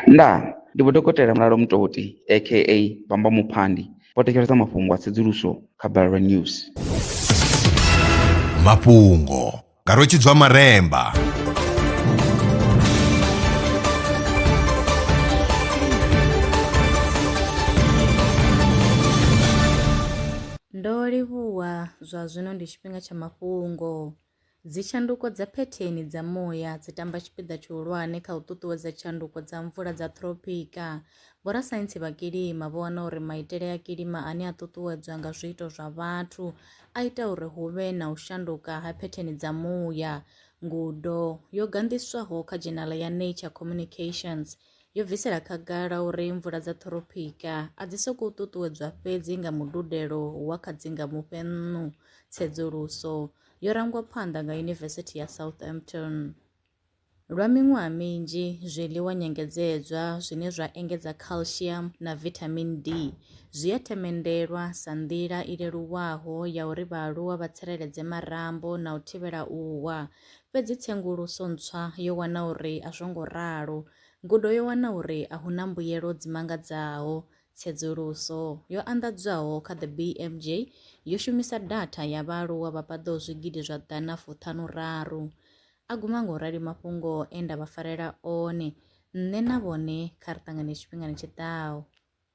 Ndaa! Ndi Vho Dokotela Mulalo Mutoti aka Bamba Muphandi vho thetshelesa mafhungo a tsedzuluso kha Balelwa News. Mafhungo nga Rwetshidzwa Maremba. Ndo livhuwa, zwa zwino ndi tshifhinga tsha mafhungo. Dzitshanduko dza phetheni dza muya dzi tamba tshipiḓa tshihulwane kha u ṱuṱuwedza tshanduko dza mvula dza thropika. Vhorasaintsi vha kilima vho wana uri maitele a kilima ane a ṱuṱuwedzwa nga zwiito zwa vhathu a ita uri hu vhe na u shanduka ha phetheni dza muya. Ngudo yo ganḓiswaho kha dzhenala ya Nature Communications yo bvisela khagala uri mvula dza ṱhorophika a dzi sokou ṱuṱuwedzwa fhedzi nga mududelo wa kha dzi nga mufhennu tsedzuluso yo rangwa phanḓa nga Yunivesithi ya Southampton. Lwa miṅwaha minzhi, zwiḽiwa nyengedzedzwa zwine zwa engedza calcium na vitamin D zwi a themendelwa sa nḓila i leluwaho ya uri vhaaluwa vha tsireledze marambo na u thivhela u wa. Fhedzi tsenguluso ntswa yo wana uri a zwo ngo ralo. Ngudo yo wana uri a hu na mbuyelo dzi mangadzaho. Tsedzuluso yo anḓadzwaho kha The BMJ yo shumisa datha ya vhaaluwa vha paḓaho zwigidi zwa ḓana fuṱhanuraru. A guma nga u rali mafhungo e nda vha farela one, Nṋe na vhone kha ri ṱangane tshifhingani tshi ḓaho.